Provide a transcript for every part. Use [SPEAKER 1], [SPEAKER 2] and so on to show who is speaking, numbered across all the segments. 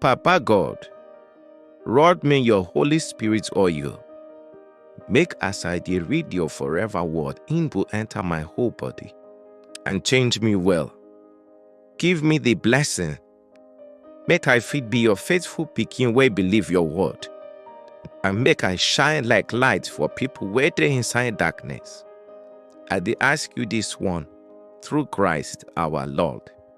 [SPEAKER 1] Papa God, rod me your Holy Spirit oil. Make as I dey read your forever word, im go enter my whole body and change me well. Give me the blessing, make I fit be your faithful pikin wey believe your word, and make I shine like light for people wey dey inside darkness. I dey ask you this one through Christ our Lord.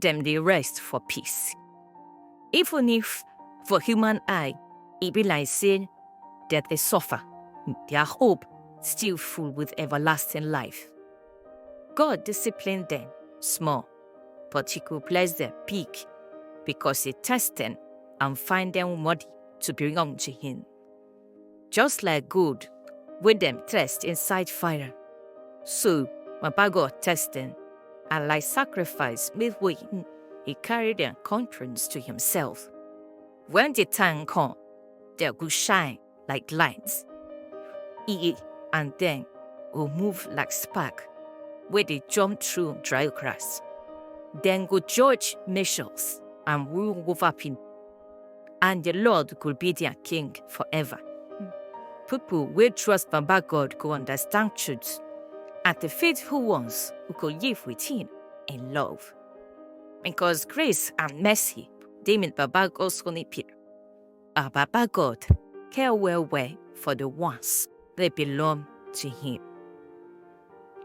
[SPEAKER 1] dem dey rest for peace. Even if for human eye e be like say dem dey suffer, their hope still full with everlasting life. God discipline them small, but he go bless them big because he test them and find them worthy to belong to him. just like gold wey dem test inside fire. So Baba God test them, and like sacrifice made way, he carried their conscience to himself. When the time come, they go shine like lights. E and then go move like spark, where they jump through dry grass. Then go judge nations and rule over people. and the Lord go be their king forever. People wey trust Baba God go understand truth, and the faithful ones who go live with him in love. Because grace and mercy dey with Baba God's holy people. Our Baba God care well well for the ones wey belong to him.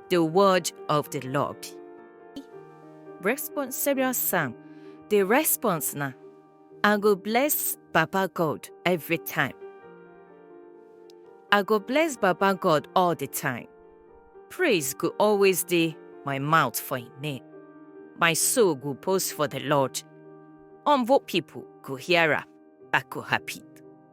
[SPEAKER 1] the word of the Lord. Response serious psalm. The response now. I go bless Baba God every time. I go bless Baba God all the time. Praise go always dey my mouth for him name. My soul go boast for the Lord. Humble people go hear am, I go happy.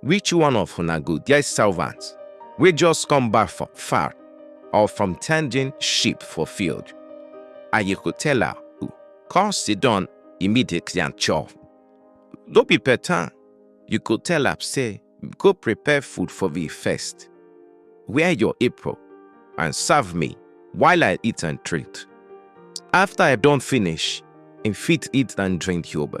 [SPEAKER 1] Which one of una go get servant wey just come back from far or from tending sheep for field, and you go tell her to come sit down immediately and chop? No be better you go tell am say go prepare food for me first, wear your apron and serve me while I eat and drink. After I don finish, im fit eat and drink yobe.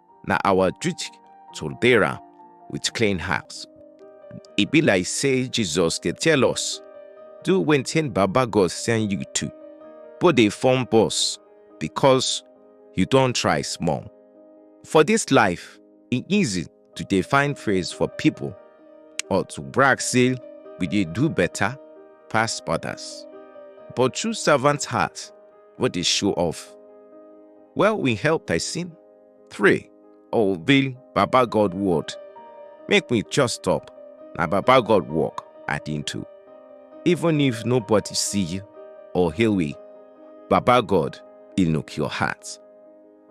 [SPEAKER 1] na our duty to repair am with clean heart. E be like say Jesus dey tell us, do wetin Baba God send you to, but dey form boss because you don try small. For this life, e easy to dey find praise for people or to brag say we dey do better pass others. But true servant heart wey dey show off, well, we help person 3. Oh, the Baba God word. Make me just stop. Now Baba God walk at into. Even if nobody see you or hear we, Baba God, he look your heart.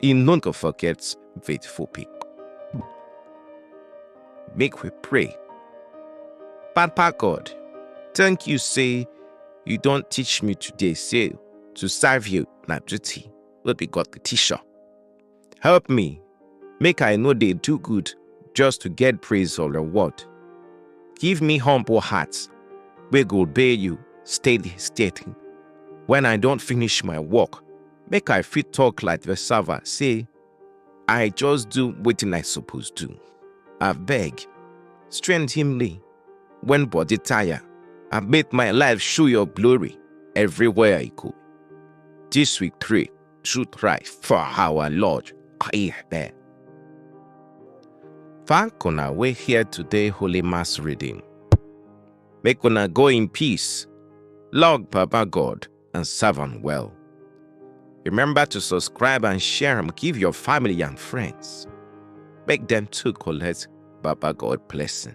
[SPEAKER 1] He none go forget faithful people. Make we pray. Papa God, thank you say you don't teach me today say to serve you na duty. wey be God the teacher. Help me, make I no dey do good just to get praise or reward. Give me humble heart wey go obey you steady steady. When I don finish my work, make I fit talk like the servant say, I just do wetin I suppose do. Abeg, strengthen me When body tire, I make my life show your glory everywhere I go. This we pray, should cry for our Lord. Amen. Thank una we here today Holy Mass reading. Make una go in peace. Lord Papa God, and serve am well. Remember to subscribe and share am give your family and friends. Make dem too collect Baba God blessing.